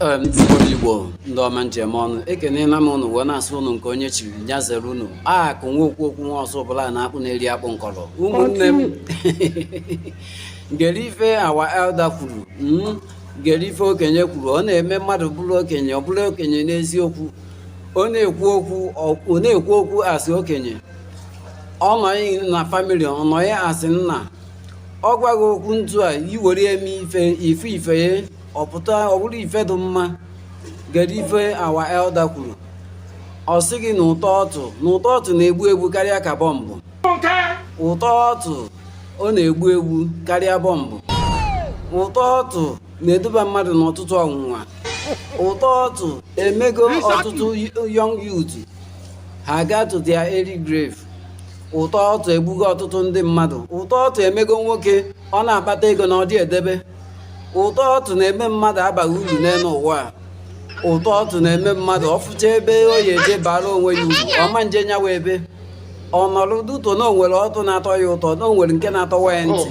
Ee, ndị Igbo Igbo ndị ọma m ji eme ọnụ ekelela m ụnụ wee na-asị ụnụ nke onye chiri ya zere ụnụ a ka nwa okwu okwu nwa Ọzụbụlụ na-akpụ na-eri akpụ nkọrọ ụmụnne m gere ife our elder kwuru mm, gere ife okenye kwuru ọ na-eme mmadụ bụrụ okenye ọ bụrụ okenye n'eziokwu ọ na-ekwu okwu ọ- ọ na-ekwu okwu asị okenye ọ nọghị na family ọ nọghị asị nna ọ gwa gị okwu ntu a i were eme ife ife ife ya ọ pụta ọ bụrụ ife dị mma gere ife our elder kwuru ọ sị gị na ụtọ ọtụ na ụtọ ọtụ na-egbu egbu karịa ka bọmbụ ụtọ ọtụ ọ na-egbu egbu karịa bọmbụ ụtọ ọtụ na-eduba mmadụ n'ọtụtụ ọnwụnwa ụtọ ọtụ emego ọtụtụ young youth ha gaa to their early grave ụtọ ọtụ egbugo ọtụtụ ndị mmadụ ụtọ ọtụ emego nwoke ọ na-akpata ego na ọ dị edebe ụtọ ọtụ na-eme mmadụ abaghị uru n'elu ụwa a ụtọ ọtụ na-eme mmadụ ọ fụcha ebe o ya eje bara onwe ya uru ọ ma nje nyawa ebe ọ nọrọ due to na o nwere ọtụ na-atọ ya ụtọ na o nwere nke na-atọwa ya ntị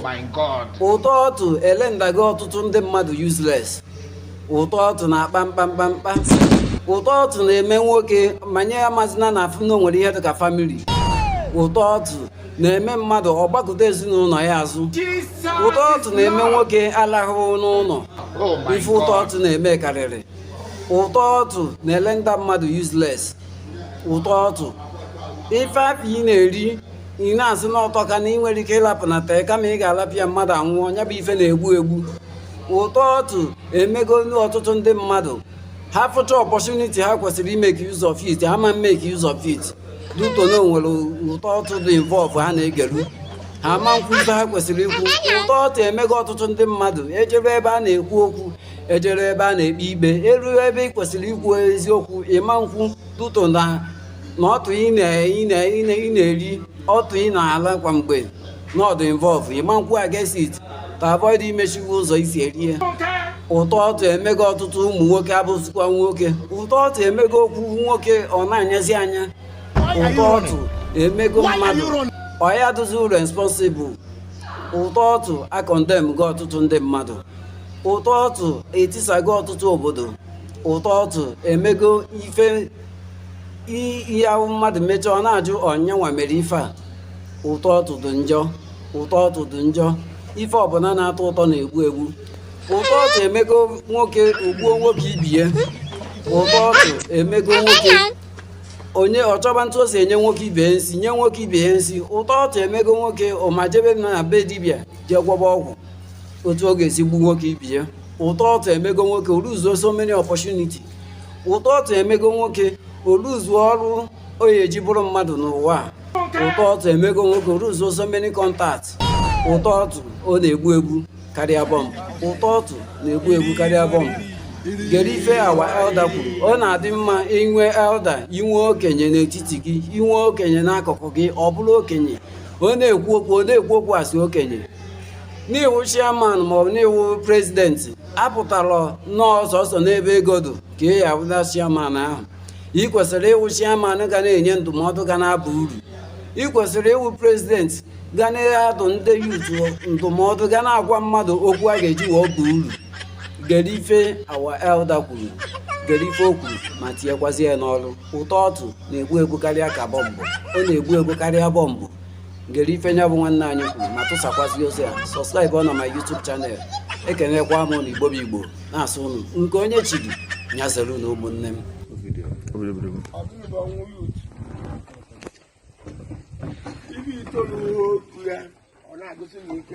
oh ụtọ ọtụ erendago ọtụtụ ndị mmadụ useless ụtọ ọtụ na-akpa mkpamkpamkpa ụtọ ọtụ na-eme nwoke manye ya mazina na afụ na o nwere ihe dịka family ụtọ ọtụ na-eme mmadụ ọ gbakụta ezinụlọ ya azụ ụtọ ọtụ na-eme nwoke alahụ n'ụlọ oh ife ụtọ ọtụ na-eme karịrị ụtọ ọtụ na-erenda mmadụ useless ụtọ ọtụ ife afụ ị na-eri ị na-asị na ọ tọka na ị nwere ike ịlapụ na tee kama ị ga-alapụ ya mmadụ anwụọ ya bụ ife na-egbu egbu ụtọ ọtụ emego ọtụtụ ndị mmadụ ha fụcha opportunity ha kwesịrị imeki use of it ha ma mmeki use of it due to na o nwere ụtọ ọtụ dị involve ha na-egelu ha ma nkwu ife ha kwesịrị ikwu ụtọ ọtụ emego ọtụtụ ndị mmadụ e jeru ebe a na-ekwu okwu e jeru ebe a na-ekpe ikpe e ru ebe ị kwesịrị ikwu eziokwu ị ma nkwu due to na na ọtụ ị na- ị na- ị na- ị na-eri ọtụ ị na-ala kwa mgbe na ọ dụ involve ị ma nkwu against it to avoid imechi gị ụzọ i si eri ya ụtọ ọtụ emego ọtụtụ ụmụ nwoke abụzikwa nwoke ụtọ ọtụ emego okwu nwoke ọ na-anyazi anya ụtọ ọtụ emego mmadụ ọ ya dụzi responsible ụtọ ọtụ akọndemgo ọtụtụ ndị mmadụ ụtọ ọtụ etisago ọtụtụ obodo ụtọ ọtụ emego ife ihe ahụ mmadụ mechaa ọ na-ajụ ọ ya nwa mere ife a ụtọ ọtụ dụ njọ ụtọ ọtụ dụ njọ ife ọbụla na-atọ ụtọ na-egbu egbu ụtọ ọtụ emego nwoke o gbuo nwoke ibie ụtọ ọtụ emego nwoke o jee chọba otu o si enye nwoke ibe ya nsi nye nwoke ibe ya nsi ụtọ ọtụ emego nwoke ọ majebe na be dibịa jee gwọba ọgwụ otu ọ ga-esi gbu nwoke ibe ya ụtọ ọtụ emego nwoke o luzuo so many opportunity ụtọ ọtụ emego nwoke o luzuo ọrụ ọ ya-eji bụrụ mmadụ n'ụwa ụtọ ọtụ emego nwoke o luzuo so many contacts ụtọ ọtụ ọ na-egbu egbu karịa bọmbụ ụtọ ọtụ na-egbu egbu karịa bọmbụ gere ife our elder kwuru ọ na-adị mma inwe elder inwe okenye n'etiti gị inwe okenye n'akụkụ gị ọ bụrụ okenye ọ na-ekwu okwu ọ na-ekwu okwu a sị okenye n'ị wụ chairman maọbụ n'ị wụ president apụtala nnọọ sọsọ n'ebe ego dụ ka ị ya-awụ the chairman ahụ ị kwesịrị ịwụ chairman ga na-enye ndụmọdụ ga na-aba uru ị kwesịrị ịwụ president ga na-adụ ndị youth ndụmọdụ ga na-agwa mmadụ okwu a ga-eji wee baa uru gere ife our elder kwuru gere ife o kwuru ma tinyekwazi ya n'ọrụ ụtọ ọtụ na-egbu egbu karịa ka bọmbụ ọ na-egbu egbu karịa bọmbụ gere ife nya bụ nwanne anyị kwuru ma tụsakwazị ozi a subscribe na my YouTube channel ekenekwa m ụnụ igbo bụ igbo na-asị ụnụ nke onye chiri nya zere nụ ụmụnne m ibi itoolu okwu ya ọ na-agụsị m ike